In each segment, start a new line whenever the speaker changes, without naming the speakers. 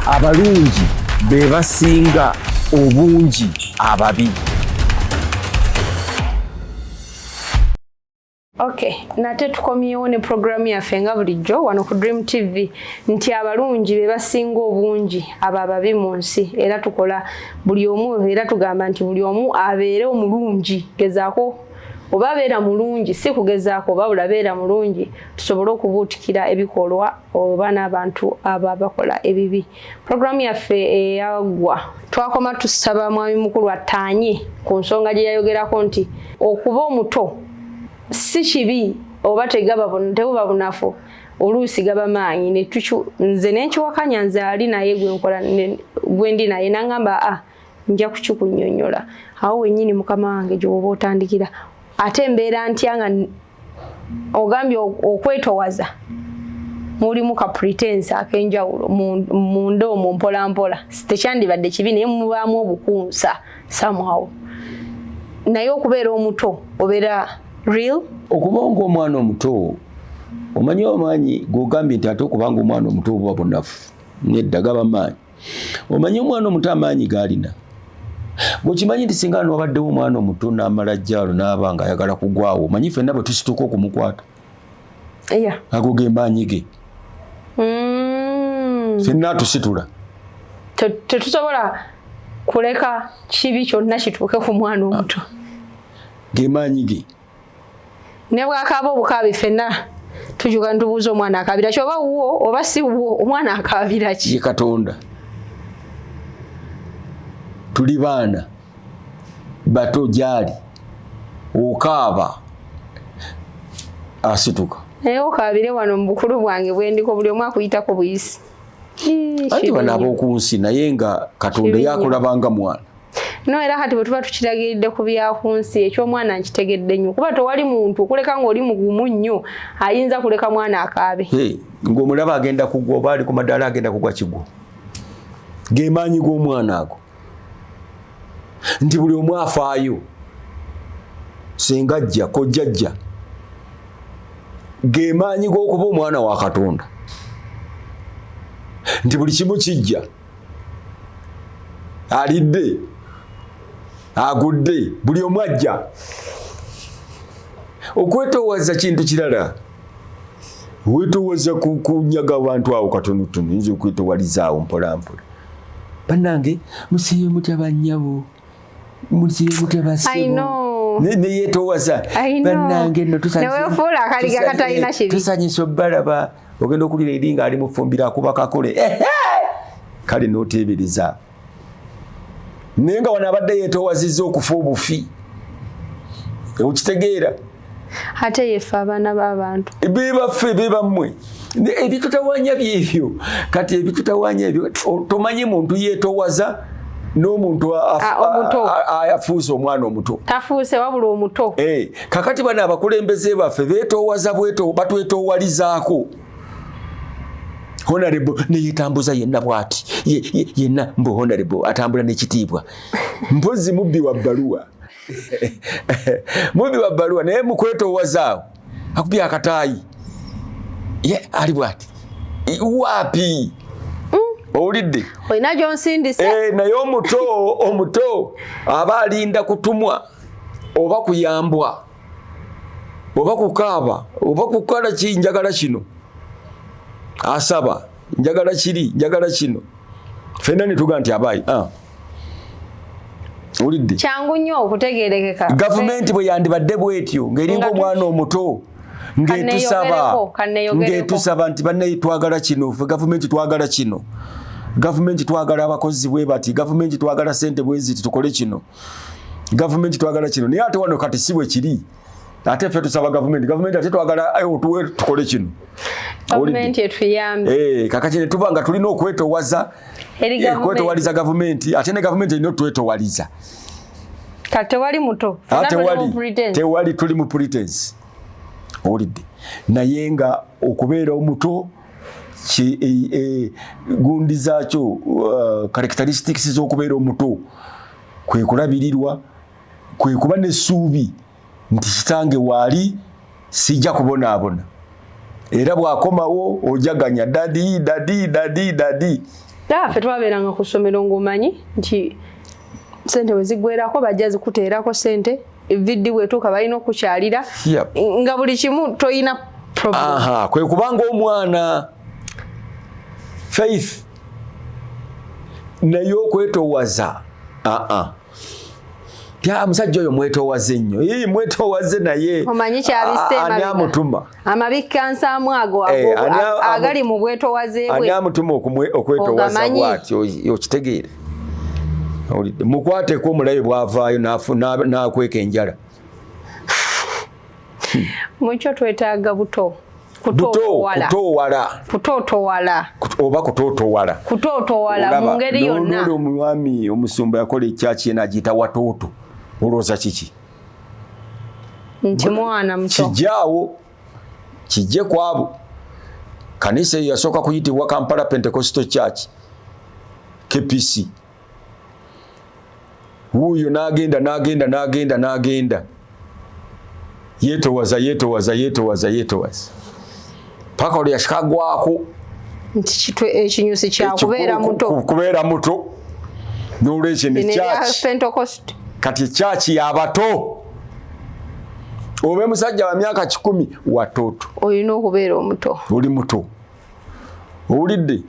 abalungi be basinga obungi ababi
Okay, nate tukomyewo ne programu yaffe nga bulijjo wano ku Dream TV nti abalungi be basinga obungi abo ababi mu nsi era tukola buli omu era tugamba nti buli omu abeere omulungi gezaako oba beera mulungi si kugezaako oba bulabeera mulungi tusobole okubuutikira ebikolwa oba n'abantu abo abakola ebibi puroguramu yaffe eyaggwa twakoma tusaba mwami mukulu attaanye ku nsonga gye yayogerako nti okuba omuto si kibi oba tegaba tebuba bunafu oluusi gaba maanyi nze nenkiwakanya nze ali naye gwenkola gwendi naye nangamba a ah, nja kukikunyonyola awo wenyini mukama wange gyoba otandikira ate mbeera ntya nga ogambye okwetowaza mulimu ka pretense akenjawulo munda omwo mpolampola tekyandibadde kibi naye mubaamu obukunsa somehow naye okubeera omuto obeera real okuba ngaomwana
omuto omanyi omaanyi gogambye nti ate okubanga omwana omuto obuba bunafu nedda gaba maanyi omanyi omwana omuto amaanyi gaalina gwekimanyi nti singa nwabaddewo omwana omuto n'amala jjaalo n'aba nga ayagala kugwawo omanyi fenna bwe tusituka okumukwata ago ge maanyi ge mm. fenna atusitula
tetusobola kuleka kibi kyonna kituuke ku mwana omuto ah. ge
maanyi ge ne
bwakaaba obukaabi ffenna tujuga nitubuuza omwana akaabira ki oba wuwo oba si wuwo omwana akaabira ki ye katonda
tuli baana bato gyali okaaba asituka naye okaabire
wano mu bukulu bwange bwendiko buli omu akuyitako buyisi anti
bano ab'oku nsi naye nga katonda yakulabanga mwana no era kati
bwetuba tukiragiridde ku byakunsi ekyomwana nkitegedde nnyo kuba tewali muntu okuleka ngaoli mugumu nnyo ayinza kuleka mwana akaabe ngaomulaba
agenda kugwa oba ali ku madaala agenda kugwa kigwo gemaanyi g'omwana ago nti buli omu afaayo singa jja kojja jja gemaanyi g'okuba omwana wa katonda nti buli kimu kijja alidde agudde buli omu ajja okwetoowaza kintu kirala wetoowaza kunyaga abantu awo katonotono yinza okwetoowalizaawo mpolampola banange musibe mutya banyabo musibe mutya basebo neyetowaza banange notusanyisa obalaba ogenda okulira eri nga ali mufumbiro akuba kakole kale noteebereza naye nga wano abadde yetowaziza okufa obufi okitegeera ate
yefe abaana babantu bebaffe
bebammwe ebitutawanya byebyo kati ebitutawanya ebyo tomanyi muntu yetowaza n'omuntu afuuse omwana omuto tafuuse wabula omuto
eh, kakati bano
abakulembeze baffe betowaza bweto batwetowalizaako honarebo neyetambuza yenna bwati yenna mbu honarebo atambula nekitiibwa mpozi mubbi wa bbaluwa mubbi wa bbaluwa naye mukwetowazaawo akubi akataayi ye ali bwati waapi mm. owulidde olina
gyonsindise eh, naye omuto
omuto aba alinda kutumwa oba kuyambwa oba kukaaba oba kukola ki njagala kino asaba njagala kiri njagala kino fenna netuga nti abaayi ah. ulidde kyangu nnyo
okutegerekeka gavumenti bwe
yandibadde bwetyo ng'eringa omwana omuto ng'etusaba ng'etusaba nti bannaye twagala kino fe gavumenti twagala kino gavumenti twagala abakozi bwe bati gavumenti twagala sente bweziti tukole kino gavumenti twagala kino naye ate wano kati si bwe kiri ate ffe tusaba gavumenti gavumenti ate twagala eh, otuwe tukole kino
eh, kakati ne tuba nga
tulina okwetowaza eh, okwetowaliza gavumenti ate ne gavumenti erina otwetowaliza
tewali muto ah,
tewali tuli mu pretense owulidde naye nga okubeera omuto e, gundi zaakyo uh, characteristics z'okubeera omuto kwe kulabirirwa kwe kuba n'essuubi nti kitange waali sijja kubonaabona era bwakomawo ojaganya dadi dadi dadi dadi
fe twabeeranga ku ssomero ng'omanyi nti sente wezigwerako bajja zikuteerako sente viddi bwetuuka balina okukyalira nga buli kimu toyina kwe kubanga
omwana faith naye okwetowaza aa musajja oyo mwetowaze nnyo mwetowaze naye ani
amutuma
amabikka nsaamu
ago eh, agali mu bwetowaze bwe ani amutuma okwetowaza
bwati okitegeere mukwateko omulabe bwavaayo nakweka enjala
mukyo twetaaga buto kutowala kutotowala oba kutotowala kutotowala mu ngeri yonna omwami omusumba
yakola ekyaki yena agiyita watooto olowooza kiki
nti mwana muto kijaawo
kijje kwabo kanisa eyo yasooka kuyitibwa kampala pentecostal church kpc wuuyo nagenda nagenda nagenda nagenda yetowaza yetowaza yetowaza yetowaza paka olya shikagwako nti
kitwe ekinyusi kya kubeera muto kubeera muto
n'olwekyo ne church kati church y'abato obe musajja wa myaka kikumi watoto olina okubeera
omuto oli muto
owulidde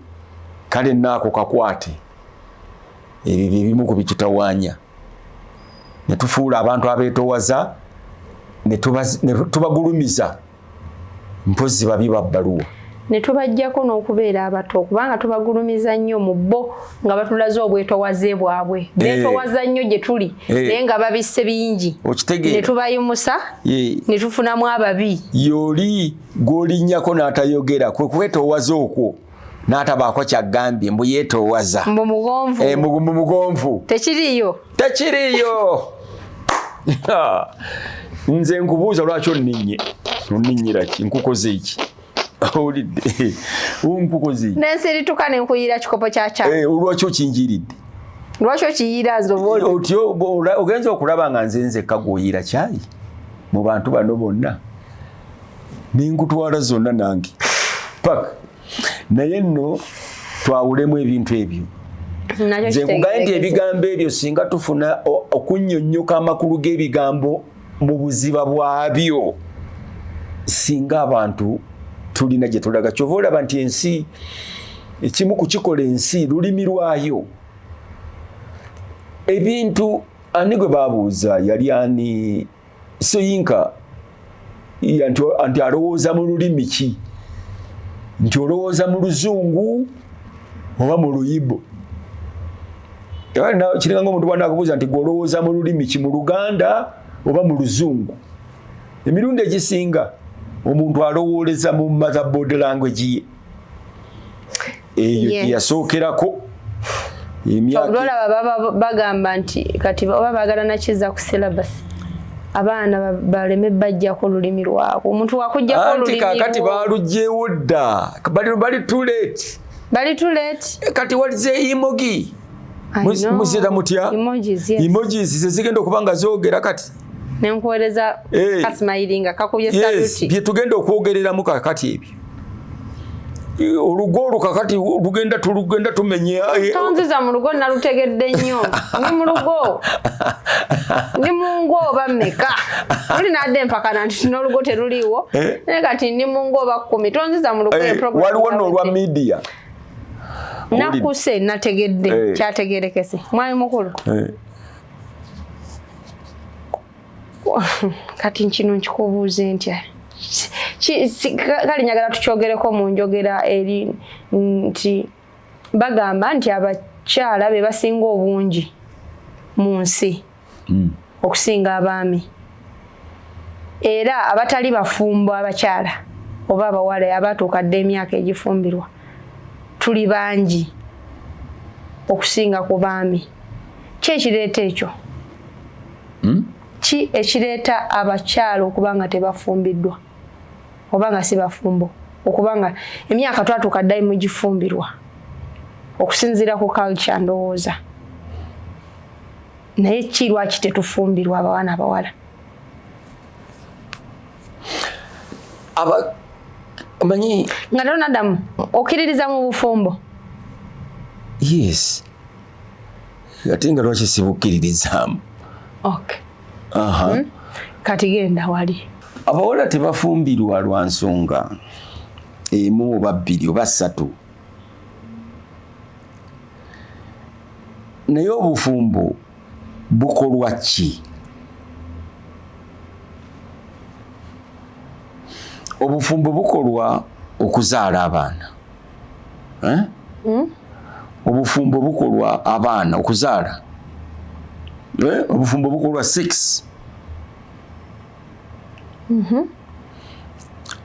kale naako kakwate ebyo byebimu ku bitutawaanya ne tufuula abantu abeetowaza ne tubagulumiza mpozi babi babbaluwa ne tubajjako
n'okubeera abato kubanga tubagulumiza nnyo mu bo nga batulaze obwetowaze bwabwe eh. beetowaza nnyo gye tuli eh. naye nga babisse bingi ne tubayimusa eh. ne tufunamu ababi yoli
gw'olinnyako n'atayogera kwe kwetowaza okwo n'atabaako kyagambye mbu yeetoowaza mbu mugonvu eh,
mbu mugonvu
tekiriiyo
tekiriiyo
nze nkubuuza lwaki onninye onninyira ki nkukoze eki owulidde nkukoze eki nensirituka nenkuyira
kikopo kya kya eh, lwaki okinjiridde
lwaki
okiyiira nze oti ogenza
okulaba nga nze nzekka gwoyiira kyayi mu bantu bano bonna nengutwala zonna nange pak naye nno twawulemu ebintu ebyo nze nkugaye nti ebigambo ebyo singa tufuna okunyonyoka amakulu g'ebigambo mu buziba bwabyo singa abantu tulina gye tulaga kyova olaba nti ensi ekimu kukikola ensi lulimi lwayo ebintu ani gwe babuuza yali ani soyinka nti alowooza mu lulimi ki nti olowooza mu luzungu oba mu luyibo kiringa nga omuntu bwana akubuuza nti gwolowooza mu lulimi ki mu luganda oba mu luzungu emirundi egisinga omuntu alowooleza mu motherboard language ye eyo yes. yasookerako olaba
bagamba nti kati oba bagala nakiza ku syllabus abaana baleme bajjako olulimi lwabwe omuntu wakujjako olulimi kakati balugyewo
dda bali too late bali too late eh, kati walize emogi muzira mutya emojis zezigenda okuba nga zogera kati nenkuwereza
eh. kasimayiringa kakubye saluti byetugenda okwogereramu
kakati ebyo olugo olwo kakati lugenda tulugenda tumenya eh, eh. tonziza mu lugo
nalutegedde nnyo ndi mu lugo ndi mu ngo oba meka oli nadde empakana nti n'olugo teruliiwo eh? naye kati ndi mu ngo oba kkumi tonziza mu lugo waliwo n'olwa
midiya
nakuse nategedde kyategerekese mwami mukulu kati nkino nkikubuuze ntya kale njagala tukyogereko mu njogera eri nti bagamba nti abakyala be basinga obungi mu nsi hmm. okusinga abaami era abatali bafumbo abakyala oba abawala abatuuka dda emyaka egifumbirwa tuli bangi okusinga ku baami kyekireeta ekyo hmm? ki ekireeta abakyala okuba nga tebafumbiddwa oba nga si bafumbo okuba nga emyaka twatuuka ddali mu gifumbirwa okusinziira ku culture ndowooza naye ki lwaki tetufumbirwa abawana abawala omanyi nga tero nadamu
okkiririza
mu bufumbo
yes ate nga lwaki sibukkiririzaamu okay. uh
-huh. mm -hmm.
kati
genda wali abawala
tebafumbirwa lwa nsonga emu oba bbiri oba ssatu naye obufumbo bukolwa ki obufumbo bukolwa okuzaala abaana eh? hmm? obufumbo bukolwa abaana okuzaala eh? obufumbo bukolwa sex mhm.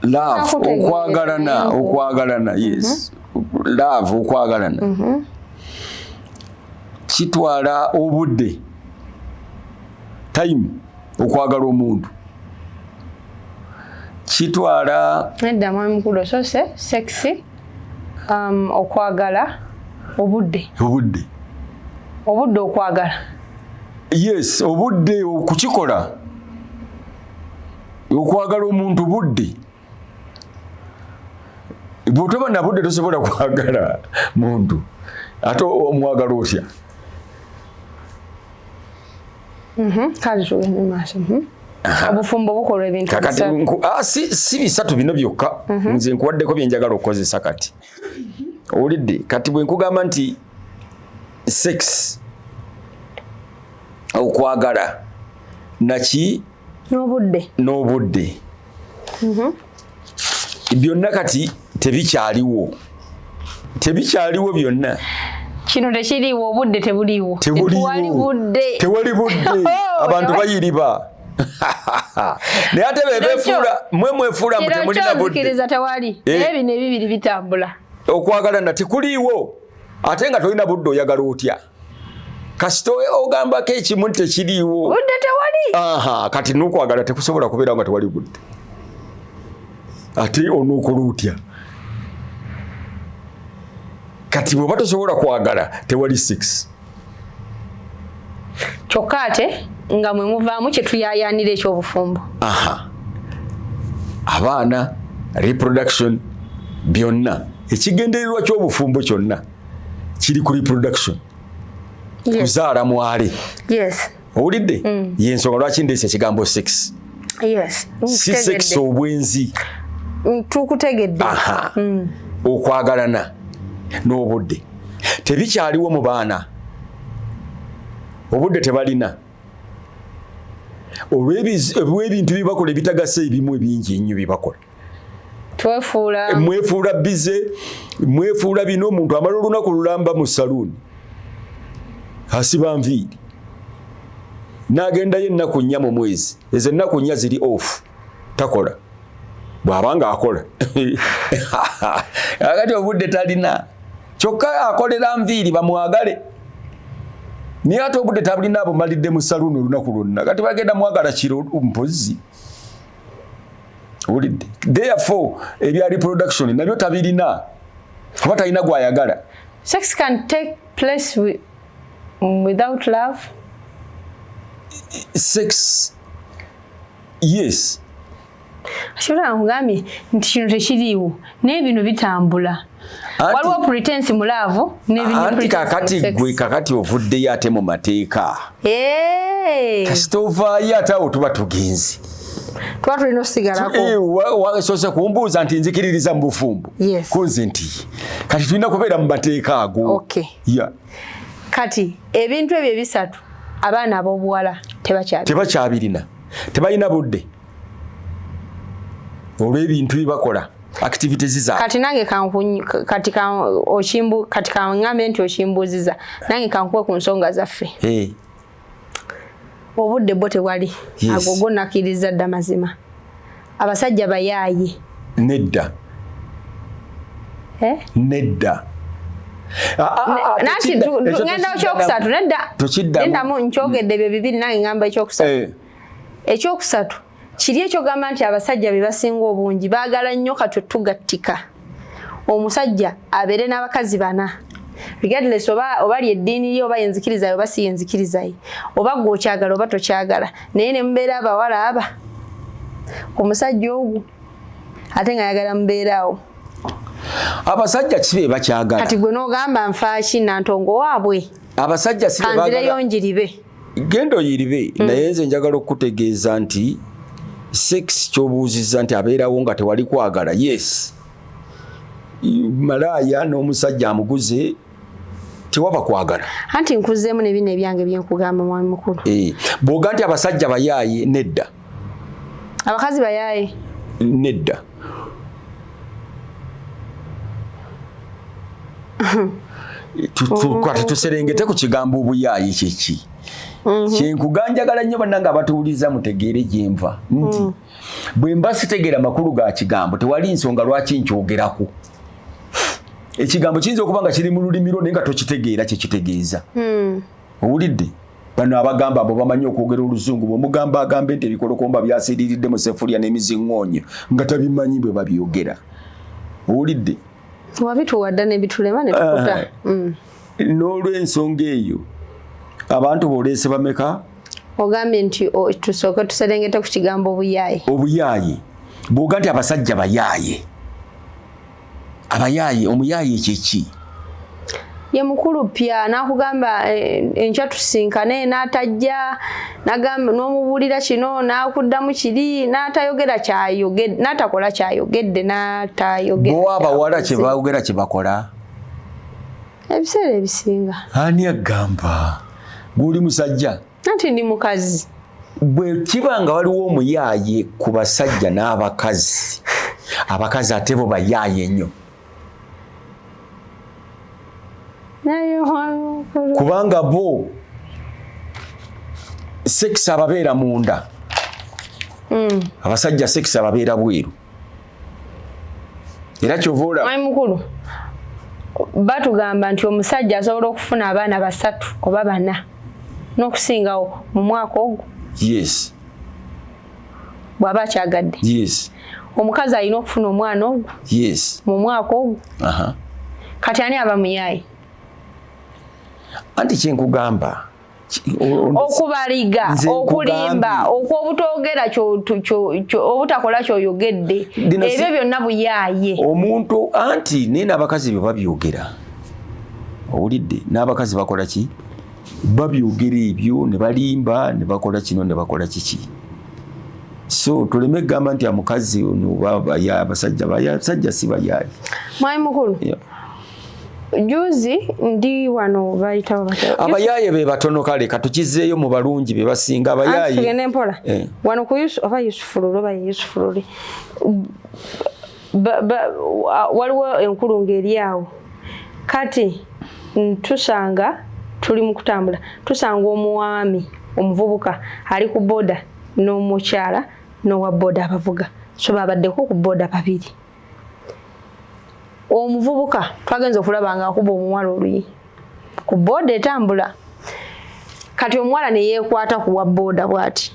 love okwagalana okwagalana yes mhm. love okwagalana mhm. kitwala obudde time okwagala omuntu kitwala edda mwami mukulu
osose sexy um, okwagala obudde obudde obudde okwagala yes
obudde okukikola okwagala omuntu budde bwotoba nabudde tosobola kwagala muntu ate omwagala otya
mhm, mhm. obufumbo bukolwa ebintu ah,
si bisatu bino byokka mhm. nze nkuwaddeko byenjagala okukozesa kati owulidde kati bwenkugamba nti sex okwagala naki n'obudde n'obudde mhm. byonna kati tebikyaliwo tebikyaliwo byonna kino
tekiriwo obudde tebuliwo tewali budde tewali budde oh,
abantu bayiriba naye ate bebefuula mwe mwefuula mbu temulina buddekiriza tewali eh.
naye bino ebibiri bitambula okwagala na
tekuliiwo ate nga tolina budde oyagala otya kasita ogambako ekimu nti tekiriiwo budde tewali
aha kati nokwagala
tekusobola kubeera nga tewali budde ate onokola otya kati bweba tosobola kwagala tewali six
kyokka ate nga mwe muvaamu kyetuyayanira ekyobufumbo aha
abaana reproduction byonna ekigendererwa kyobufumbo kyonna kiri ku reproduction yes. kuzaala mwale yes.
owulidde mm.
yensonga lwaki ndeesa ekigambo sex yes.
si sex
obwenzi mm,
tukutegedde mm. okwagalana
n'obudde tebikyaliwo mu baana obudde tebalina olw'ebintu byebakola ebitagasa ebimu ebingi ennyo byebakola twefuula mwefuula bize mwefuula bino omuntu amala olunaku lulamba mu saluuni asiba nviiri nagendayo ennaku nnya mu mwezi ezo ennaku nnya ziri off takola bwaba nga akola akati obudde talina kyokka akolera nviiri bamwagale naye ate obudde tabulina abumalidde mu saluuni olunaku lwonna kati bagenda mwagala kiro mpozzi wulidde therefore ebya reproduction nabyo tabirina kuba talina gwayagala sex can
take place with, without love
sex yes
ashobora nkugambye nti kino tekiriiwo naye bino bitambula waliwo pretense mu laavu anti kakati
gwe kakati ovuddeyo ate mu mateeka kasita ovaayo ate awo tuba tugenzi tuba tulina
osigalakosose eh, kumbuuza
nti nzikiririza mu bufumbo kunze nti kati tulina kubeera mu mateeka ago
kati ebintu ebyo ebisatu abaana ab'obuwala tebakyabirina
tebalina budde olw'ebintu bye bakola activities za kati nange kankunyi
kati ka okimbu kati ka ngambe nti okimbuziza nange kankuwe ku nsonga zaffe eh obudde bwo tewali yes. ago gonakiriza dda mazima abasajja bayaaye nedda
eh?
nedda nanti ngenda okyokusatu nedda nkyogedde ebyo bibiri nange ngamba ekyokusatu eh. ekyokusatu kiri ekyogamba nti abasajja be basinga obungi baagala nnyo katwe tugattika omusajja abeere n'abakazi bana regardless oba oba lye eddiini lye oba yenzikirizayo oba si yenzikirizaye oba gwe okyagala oba tokyagala naye ne mubeera abawala aba ku musajja ogwo ate nga ayagala mubeeraawo
abasajja kibe bakyagala kati gwe n'ogamba
nfaaki nantongo waabwe abasajja sibe
kanzireyo njiribe
genda oyiribe
mm. naye nze njagala okukutegeeza nti sex kyobuuziza nti abeerawo nga tewali kwagala yes malaaya n'omusajja amuguze tewaba kwagala anti nkuzeemu
nebino ebyange byenkugamba mwami mukulu eh, bwoga nti
abasajja bayaaye nedda
abakazi bayaye nedda
tukwate tuserengete ku kigambo obuyaayi kyeki mhm. kyenkuganjagala nnyo bannange abatuwuliza mutegeere gyenva nti mm. bwe mba sitegeera amakulu ga kigambo tewali nsonga lwaki nkyogerako ekigambo kiyinza okuba nga kiri mu lulimi lwo naye nga tokitegeera kyekitegeeza mm. owulidde bano abagamba abo bamanyi okwogera oluzungu bwemugamba agambe nti ebikolokomba byasiriridde mu sefulya n'emizingoonyo nga tabimanyi bwe babyogera owulidde wabituwadda
nebitulema netukuta mm. n'olwensonga
eyo abantu boleese bameka ogambye nti
tusooke tuserengete ku kigambo obuyaaye obuyaaye bwoga nti abasajja bayaaye abayaaye omuyaaye kyeki ye mukulu pya nakugamba eh, enkya tusinkane natajja nagamba nomubuulira kino nakuddamu kiri natayogera kyayogedde natakola kyayogedde natayogeraowa abawala
kyebawogera kyebakola
ebiseera ebisinga ani agamba
guli musajja nanti ndi mukazi
bwe kiba
nga waliwo omuyaaye ku basajja n'abakazi abakazi ate bo bayaaye nnyo kubanga bo sekisi ababeera munda mm. abasajja sekisi ababeera bweru era kyovaolaba mukulu
batugamba nti omusajja asobola okufuna abaana basatu oba bana n'okusingawo mu mwaka ogwo yes bw'aba akyagadde yes
omukazi alina
okufuna omwana ogwo yes mu mwaka
ogwo
kati ani aba muyaayi
anti kyenkugamba okubaliga
okulimba okwobutogera obutakola kyoyogedde ebyo byonna buyaaye omuntu
anti naye n'abakazi bye babyogera owulidde n'abakazi bakola ki babyogera ebyo ne balimba ne bakola kino ne bakola kiki so tuleme kugamba nti amukazi ono abasajja basajja si bayaaye mwami mukulu
yeah. juzi ndi wano bayita babateo abayaye be batono
kale katukizeyo mu balungi be basinga abayaye tugende mpola
eh. wano ku Yusuf aba Yusuf lulu ba Yusuf lulu ba, ba, waliwo enkulu ngeri awo kati ntusanga tuli mu kutambula tusanga omuwami omuvubuka ali ku boda n'omukyala n'owa boda abavuga so babaddeko ku boda babiri omuvubuka twagenza okulaba nga akuba omuwala oluyi ku booda etambula kati omuwala neyekwata kuwa booda bwati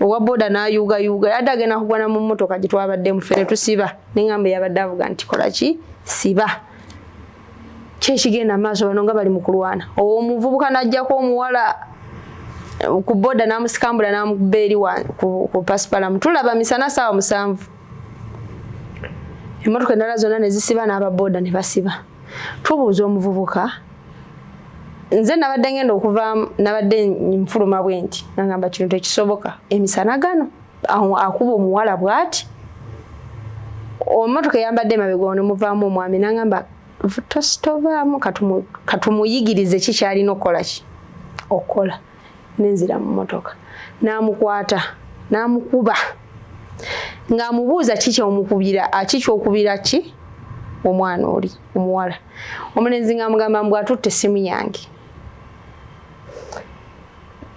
owa booda nayuugayuuga yadde agenda kugwana mu mmotoka gye twabadde mufe ne tusiba neŋamba yabadde avuga nti kola ki siba kyekigenda maaso bano nga bali mu kulwana omuvubuka najjako omuwala ku booda namusikambula namukuba eri ku pasipalamu tulaba misana saawa musanvu emmotoka endala zonna ne zisiba n'ababooda ne basiba tubuuza omuvubuka nze nabadde ngenda okuva nabadde nfuluma bwe nti nagamba kino tekisoboka emisana gano akuba omuwala bwati omotoka eyambadde emabega ono muvaamu omwami nagamba tovaamu katumuyigirize kikyalina okukola ki okukola nenzira mu motoka n'amukwata n'amukuba ng'amubuuza ki kyomukubira ki kyokubira ki omwana oli omuwala omulenzi ng'amugamba mbu atutte essimu yange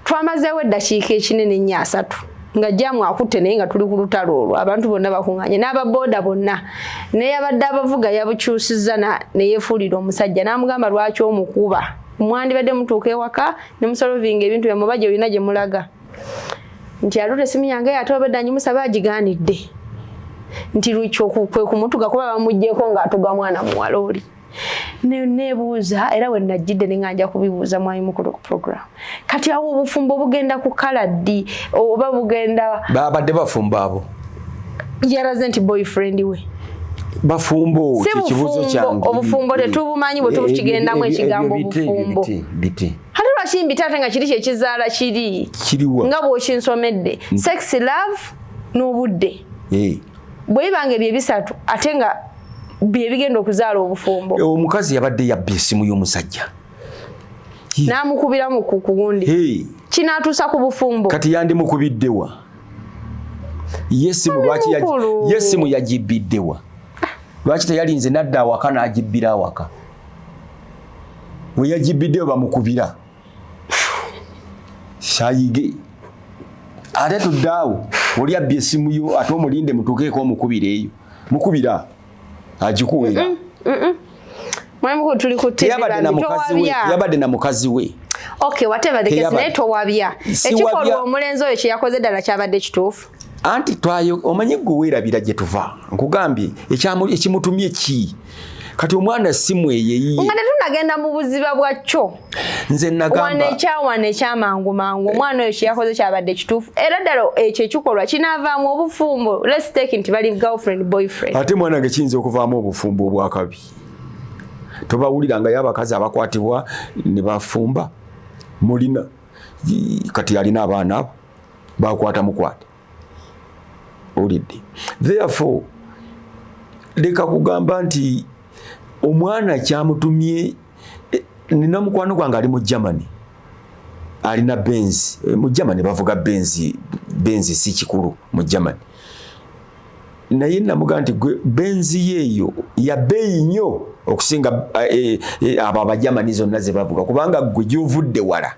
twamazeewo eddakiika ekinene nnyo asatu nga jamu akutte naye nga tuli ku lutalo olwo abantu bonna bakunganye n'ababooda bonna neyabadde abavuga yabukyusiza neyefuulira omusajja n'amugamba lwaki omukuba mwandibadde mutuuka ewaka ne musolvinga ebintu byammwe oba gyolina gye mulaga nti aloota essimu yange ate obedda ngimusaba agigaanidde nti kwe kumutuga kuba bamugyeko ng'atuga mwana muwala oli nebuuza era we najjidde ne nga nja kubibuuza mwami mukulu ku program kati awo obufumbo bugenda kukala ddi oba bugenda
babadde
bafumbo abo yaraze nti boyfriend
we bafumbo kyekibuzo
kyange obufumbo tetubumanyi bwe tukigendamu ekigambo obufumbo biti hati lwaki mbita ate nga kiri kyekizaala kiri kiriwa nga bwokinsomedde mm. sex love n'obudde eh. bwe bibanga ebyo ebisatu ate nga byebigenda okuzaala obufumbo eh, omukazi yabadde
yabba esimu y'omusajja namukubiramu
ku kugundi kinatuusa ku bufumbo kati yandimukubiddewa
yesimu lwaki yesimu yagibbiddewa lwaki teyalinze nadda awaka n'agibbira awaka weyagibbiddeyo bamukubira sayige ate tuddaawo oli abbye esimu yo ate omulinde mutuukeeko omukubira eyo mukubira agikuwera mm -mm. mwemukulu tuli ku TV yabadde na mukazi we okay whatever the
case naye towabya ekikolwa omulenzi oyo kyeyakoze ddala kyabadde kituufu anti twayo
omanyi gwe weerabira gye tuva nkugambye ekimutumye ki kati omwana simweyeyiye nga tetunagenda mu
buziba bwakyo nze nagamba
ekyawana ekyamangu
mangu eh. omwana oyo kyeyakoze kyabadde kituufu era ddala ekyo ekikolwa kinaavaamu obufumbo let's take nti bali girlfriend boyfriend ate mwana nge kiyinza
okuvaamu obufumbo obwakabi tobawulira nga yabakazi abakwatibwa ne bafumba mulina kati yalina abaana abo bakwata mukwate olidde therefore leka kugamba nti omwana kyamutumye eh, nina mukwano gwange ali mu germany alina benzi eh, mu germany bavuga benzi benzi si kikulu mu germany naye namuga nti gwe benzi yeeyo yabeeyi nnyo okusinga eh, abo abagermany zonna zebavuga kubanga gwe gyovudde wala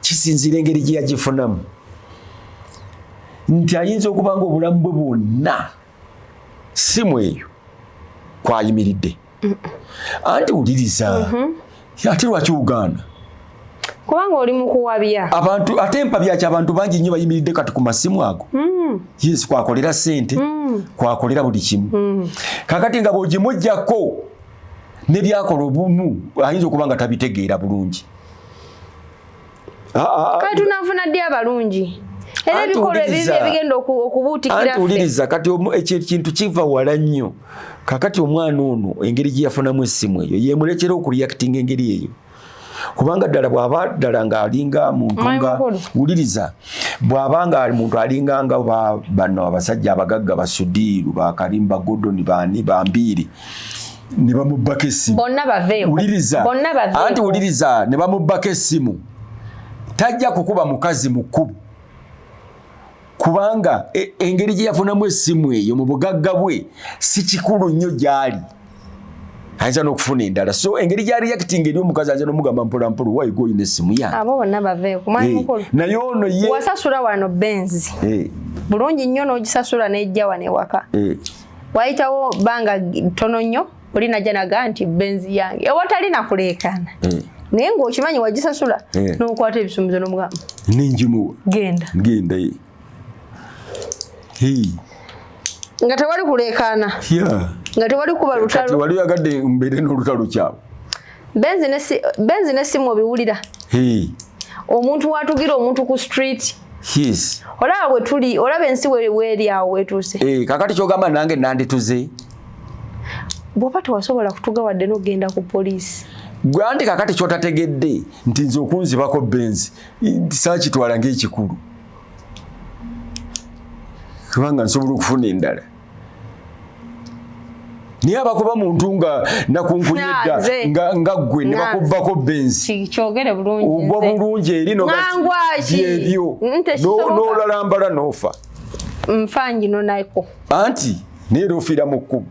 kisinziira engeri gye yagifunamu nti ayinza okuba nga obulamu bwe bwonna simu eyo kwayimiridde anti wuliriza mm-hmm. ate lwaki ugaana kubanga
oli mukuwabya abantu ate mpabyaki
abantu bangi nnyo bayimiridde kati ku masimu ago mm. yes kwakolera sente mm. kwakolera buli kimu mm. kakati nga bwogimujjako ne byakola obumu ayinza okuba nga tabitegeera bulungi ah,
ah, ah. kati tunanfuna ddi abalungi era ebikolwa ebibi ebigenda okubuutikira anti wuliriza kati
ekyo ekintu kiva wala nnyo kakati omwana ono engeri gye yafunamu essimu eyo yemuleetera okureactinga engeri eyo kubanga ddala bw'aba ddala ng'alinga muntu nga wuliriza bw'aba nga muntu alinga nga bano abasajja abagagga basudiiru bakarimba godoni bani bambiiri ne bamubbako essimu wuliriza anti wuliriza ne bamubbako essimu tajja kukuba mukazi mukkubu kubanga e, engeri gye yafunamu essimu eyo mu bugagga bwe si kikulu nnyo gy'ali ayinza n'okufuna endala so engeri gya reacting eri omukazi ayinza n'omugamba mpolampola why go in essimu yange abo bonna baveeko mwami
eh, mukulu naye ono ye
wasasula wano
benzi eh. bulungi nnyo n'ogisasula n'ejja wano ewaka eh. wayitawo banga ttono nnyo oli najja naga nti benzi yange ewatali nakuleekaana mm. naye ngaokimanyi wagisasula yeah. nokwata ebisumbuzo nomugamba nenjimuwa
genda genda
ye hey. nga tewali kuleekaana yeah. nga tewali kuba lutalo wali yagadde mbeere
n'olutalo kyabo
benzi nesimu obiwulira hey. omuntu watugira omuntu ku street yes. olaba bwetuli olaba ensi weri awo wetuuse hey, eh, kakati kyogamba nange
nandituze
bwoba tewasobola kutuga wadde nogenda ku poliisi gwe anti kakati
kyotategedde nti nze okunzibako benzi sakitwala ngaekikulu kubanga nsobola okufuna endala naye abakuba muntu nga nakunkunyedda nga gwe nebakubbako benziogwa
bulungi eri
nobyebyo nolalambala nofa nfa
ngino naiko anti
naye era ofiira mu kkubo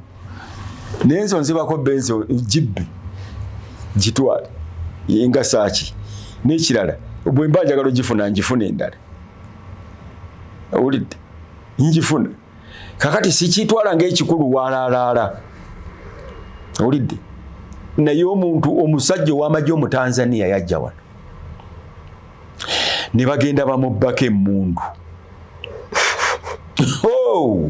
naye nze onzibako benzi gibbe gitwale nga saaki n'ekirala bwe mba njagala ogifuna ngifuna endala owulidde ngifuna kakati sikyitwala ngaekikulu walaalaala owulidde naye omuntu omusajja ow'amagye omutanzania yajja wano ne bagenda bamubbako emmundu oh!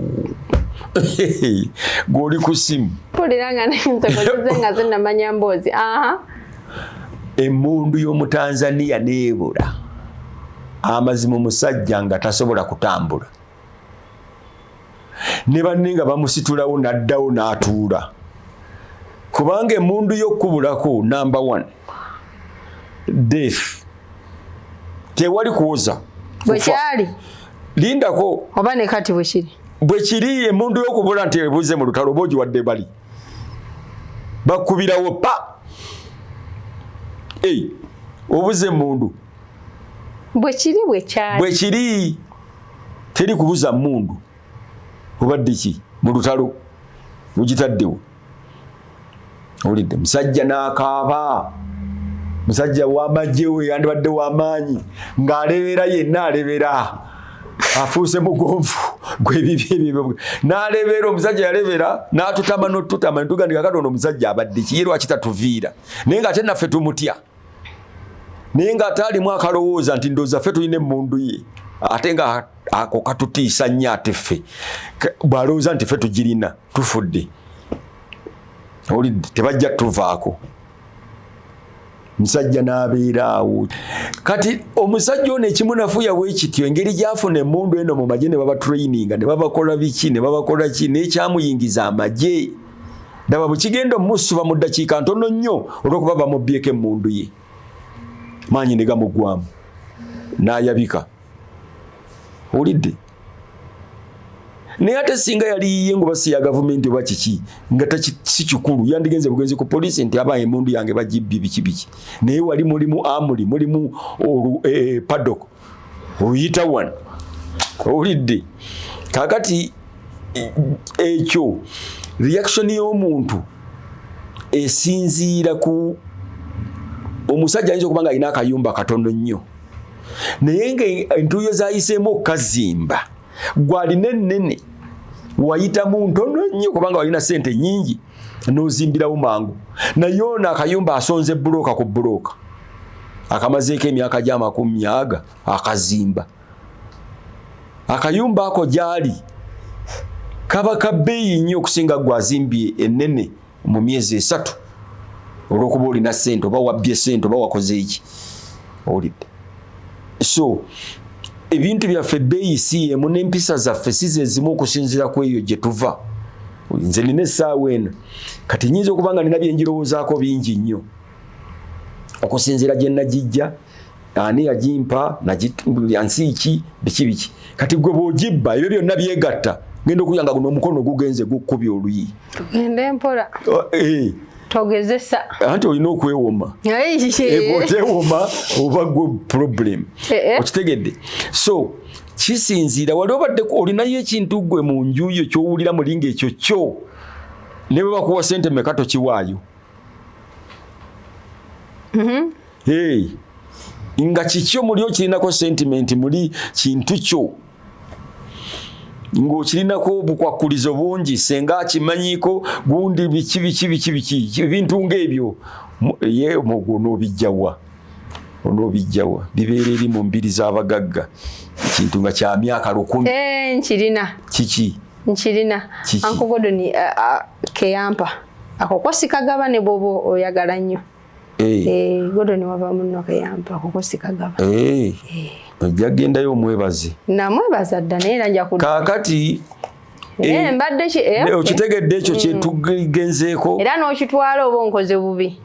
gwoli ku simu
emmundu
y'omutanzaniya neebula amazima omusajja nga tasobola kutambula ne banne nga bamusitulawo n'addawo n'atuula kubanga emundu y'okukubulako number one death tewali kuwoza bwekyali
lindako
oba ne kati
bwekiri bwekiri
emundu y'okubula nti ebuze mu lutalo oba ogiwadde bali bakubirawo pa obuze emundu bwekiri bwekyali bwekiri teri kubuza mundu obaddeki mu lutalo ogitaddewo owulidde musajja n'akaaba musajja wamagye we yandibadde wamaanyi ng'alebeera yenna alebeera afuuse mugonvu gwebibi ebyo n'alebeera omusajja yalebeera n'atutama n'otutama netugandika katonda omusajja abadde ki ye lwaki tatuviira naye ng'ate naffe tumutya naye nga ate alimu akalowooza nti ndooza ffe tulina emmundu ye ate nga ako katutiisa nnyo ate ffe bw'alowooza nti ffe tugirina tufudde olidde tebajja tuvaako musajja n'abeera awo kati omusajja ono ekimunafuya bwe kityo engeri gyafuna emundu eno mu magye ne babatraininga ne babakola biki ne babakola ki n'ekyamuyingiza amagye daba bwekigenda omusiba mu ddakiika ntono nnyo olwokuba bamubbyeko emmundu ye maanyi ne gamuggwamu n'ayabika owulidde naye ate singa yali yiye nga obasi ya gavumenti oba kiki nga si kikulu yandigenze bugenzi ku poliisi nti aba emundu yange bagibbye biki biki naye wali mulimu amuli mulimu e, e, padok oyita wano owulidde kakati ekyo reaction y'omuntu esinziira ku omusajja ayinza okuba nga alina akayumba katono nnyo naye nga entuuyo zayiseemu okukazimba gwalina ennene wayitamu ntono nnyo kubanga walina sente nyingi nozimbirawo mangu naye ono akayumba asonze bulooka ku bulooka akamazeeko emyaka gyamakumi aga akazimba akayumba ako gyali kaba kabeeyi nnyo okusinga gwe azimbye enene mu myezi esatu olwokuba olina sente oba wabbye sente oba wakoze eki olidde so ebintu byaffe beeyi si emu n'empisa zaffe si zezimu okusinzira ku eyo gye tuva nze nina essaawa eno kati nyinza okuba nga nina byenjirowoozaako bingi nnyo okusinziira gye nagijja ani yagimpa nsi ki biki biki kati gwe bwogibba ebyo byonna byegatta genda okuya nga guno omukono gugenze gukkubi oluyi tugende mpola
oh, eh. togezesa anti olina
okwewoma eh, okwewoma oba gwe problem eh, okitegedde so kisinziira wali obaddeko olinayo ekintu gwe mu nju yo kyowulira muli ngaekyo kyo ne bwe bakuwa sente meka tokiwaayo mm-hmm. nga kikyo muli okirinako sentimenti muli kintu kyo ng'okirinako obukwakkulizo bungi senga akimanyiiko gundi biki biki biki biki ebintu ng'ebyo ye omugwo n'obijjawa onoobijjawa bibeera eri mu mbiri z'abagagga ekintu nga kya myaka lukumi eh, nkirina kiki nkirina
ankogodoni eh, eh, keyampa ako kosikagaba ne bwoba oyagala nnyo godoni wava munno keyampa ako kosikagaba
ojja kugendayo omwebaze namwebaza dda
naye era njakakati
Eh, eh,
mbadde ki eh, eh okitegedde
ekyo mm. kyetugenzeeko era n'okitwala
oba onkoze bubi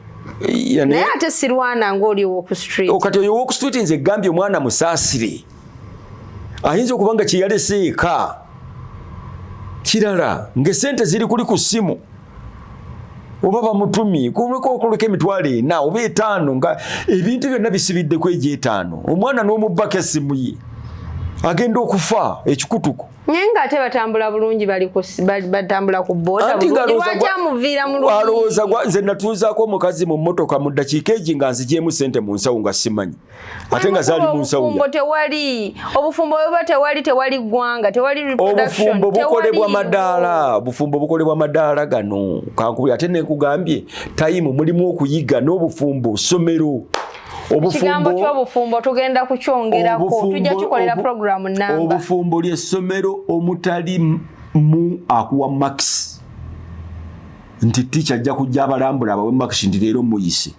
naye ate sirwana ngaoli owoku street oh, kati oyo owoku street nze
gambye omwana musaasire ayinza okuba nga kyeyalese eka kirala ngaesente ziri kuli ku ssimu oba bamutumi kulekaokuleka emitwalo ena oba etaano nga ebintu byonna bisibidde ku egyo etaano omwana n'omubbako essimu ye agenda okufa ekikutuko naye
nga ate batambula bulungi batambula ku boodalowooza nze
natuuzaako omukazi mu mmotoka mu ddakiika egi nga nzigyemu sente mu nsawo nga simanyi ate nga zaali mu nsawobufumbo tewali
obufumbo bweba tewali tewali ggwanga tewali obufumbo bukolebwa
madaala obufumbo bukolebwa madaala gano kankubi ate nekugambye tayimu mulimu okuyiga n'obufumbo somero ekigambo
ky'obufumbo tugenda kukyongerako tujja kikolera puroguramu namba obufumbo lyessomero
omutali mu akuwa max nti ticha ajja kujja abalambula abawe max nti leero muyise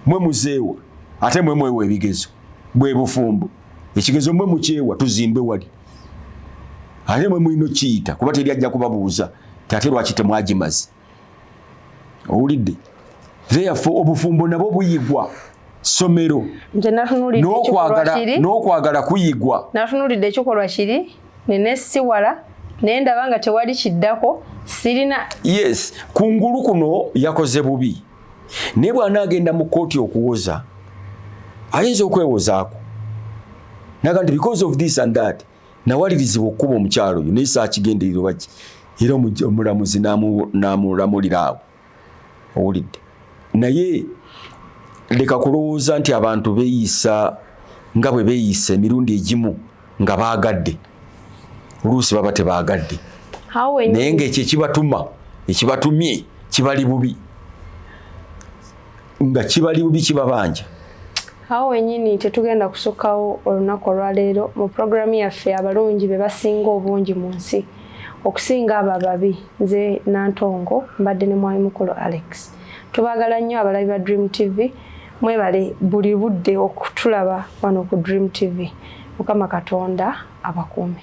mwe muzeewa ate mwe mwewa ebigezo bwe bufumbo ekigezo mwe mukyewa tuzimbe wali ate mwe mulina okiyita kuba teri ajja kubabuuza ti ate lwaki temwagimazi owulidde therefore obufumbo nabo buyigwa somero n'okwagala kuyigwa natunulidde ekikolwa
kiri nenesiwala naye ndaba nga tewali kiddako sirina yes
kungulu kuno yakoze bubi naye bwanaagenda mu kkooti okuwoza ayinza okwewozaako naga nti because of this and that nawalirizibwa okukuba omukyalo oyo naye saakigenderera oba ki era omulamuzi n'amulamulira awo owulidde naye leka kulowooza nti abantu beeyisa nga bwe beeyisa emirundi egimu nga baagadde oluusi baba tebaagadde naye ng'ekyo ekibatuma ekibatumye kibali bubi nga kibali bubi kibabanja awo
wenyini tetugenda kusukawo olunaku olwaleero mu puroguramu yaffe abalungi be basinga obungi mu nsi okusinga abo ababi nze nantongo mbadde ne mwami mukulu alex tubagala nnyo abalabi ba dream tv mwebale buli budde okutulaba wano ku dream tv mukama katonda abakuume